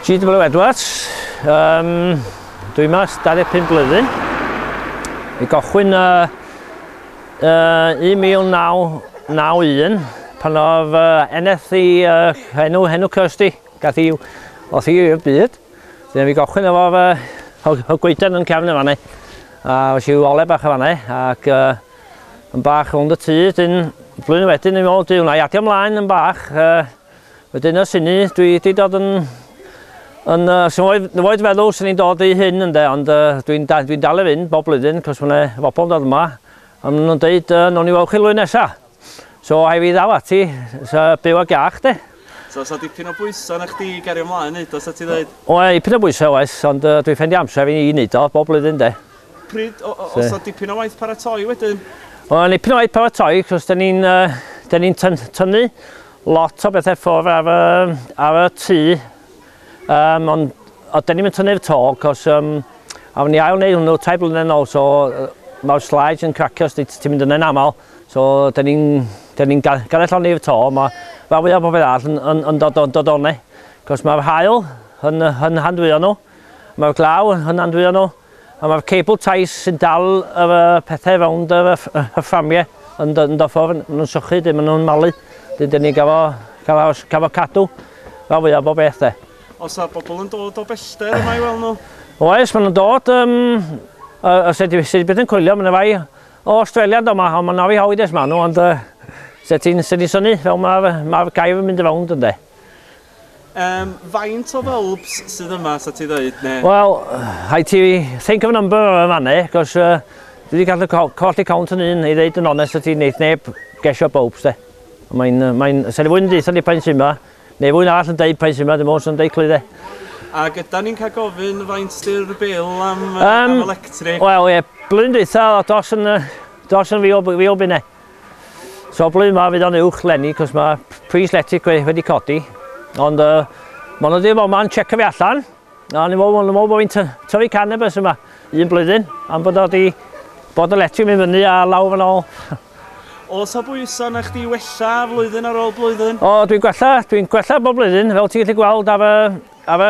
GW Edwards, um, dwi'n mas 25 blwyddyn. Mi gochwyn uh, uh, 1991 pan oedd uh, eneth i uh, henw, henw Kirsty, gath i oth i'r byd. Dyna mi gochwyn efo uh, o goeden yn cefn y fanau. A oes i'w ole bach y fanau ac uh, yn bach ond y tŷ, dyn blwyddyn wedyn yn ôl, dwi'n adio mlaen yn bach, uh, Wedyn ers hynny, dwi wedi dod yn... yn uh, sy'n oed, oed feddwl sy'n ni'n dod i hyn ynde, ond uh, dwi'n da, dwi dal i fynd bob blwyddyn, cos mae'n yna bobl yn dod yma, a maen nhw'n dweud, uh, nhw'n i weld chi lwy'n nesa. So, hai fi ddal ati, so, byw ag iach, de. So, so dipyn o bwysau na chdi gario ymlaen yn neud o, sa ti dweud? O, e, dipyn o bwysau oes, ond uh, dwi'n ffendi amser fi'n i wneud o, bob blwyddyn, de. Pryd, o, o, so dipyn o waith paratoi wedyn? O, dipyn o waith paratoi, cos da ni'n uh, ni tynnu Lot o bethau ffwr ar y, ar y tŷ, um, ond o, dyn ni'n mynd tynnu'r to, cos um, awn ni ail wneud hwnnw tai blynedd nôl, so mae'r slides yn cracio os ti'n mynd yna'n aml, so dyn ni'n ni ganelloni'r to, mae rhan fwyaf o bobl arall yn, yn, yn dod, dod, dod o'ne, cos mae'r hael yn, yn handwyo nhw. Mae'r glaw yn hynandwyonol a mae'r cable ties sy'n dal yr uh, pethau rownd yr uh, hyfframiau yn dod o ffwrn. Maen nhw'n sychu, dyn maen nhw'n malu. Dyn dyn ni gafo, gafo, gafo cadw fel fwyaf bob beth de. Os a bobl yn dod o bellter yma i weld nhw? Oes, maen nhw'n dod. Um, uh, os ydy, ydy beth yn coelio, maen nhw'n fai o Australia do yma, ond maen nhw'n hawyd es maen nhw, ond uh, sut ti'n syni fel mae'r ma gair yn mynd y rownd ynddo. Yym, faint o fylbs sydd yma, sa ti ddeud, ne? Wel, rhaid ti think of a number ar y fanne, cos uh, dwi wedi gallu co colli count yn un, i ddeud yn onest y ti wneud neb gesio bobs de. Mae'n, mae'n, sa'n i fwy'n deitha ni pa'n sy'n yma, neu fwy'n arall yn deud pa'n sy'n yma, dim ond sy'n deud clwy de. A gyda ni'n cael gofyn faint dy'r bil am, um, am electric? Wel, ie, yeah, blwyddyn deitha, dos yn, dos yn fi o, fi o bine. So blwyddyn ma fydd o'n uwch lenni cos mae pris letic wedi codi. Ond uh, mae'n ydy'r fawr ma'n checio fi allan. A ni'n meddwl bod fi'n tyfu cannabis yma un blwyddyn. Am bod wedi bod y letic mynd fyny a lawr yn ôl. Os o bwyso na chdi wella flwyddyn ar ôl blwyddyn? O, dwi'n gwella, dwi'n gwella bob blwyddyn, fel ti'n gallu gweld ar y, ar y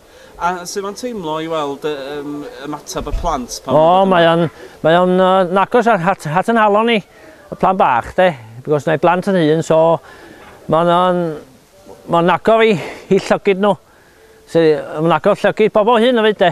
A sut mae'n teimlo i weld ymateb y plant pan nhw'n dod yma? O, mae o'n nagos at yn halon ni, y plant bach de, because na'i blant yn hun, so mae'n nagor i llygid nhw, mae'n nagor llygid pobl hŷn hefyd de.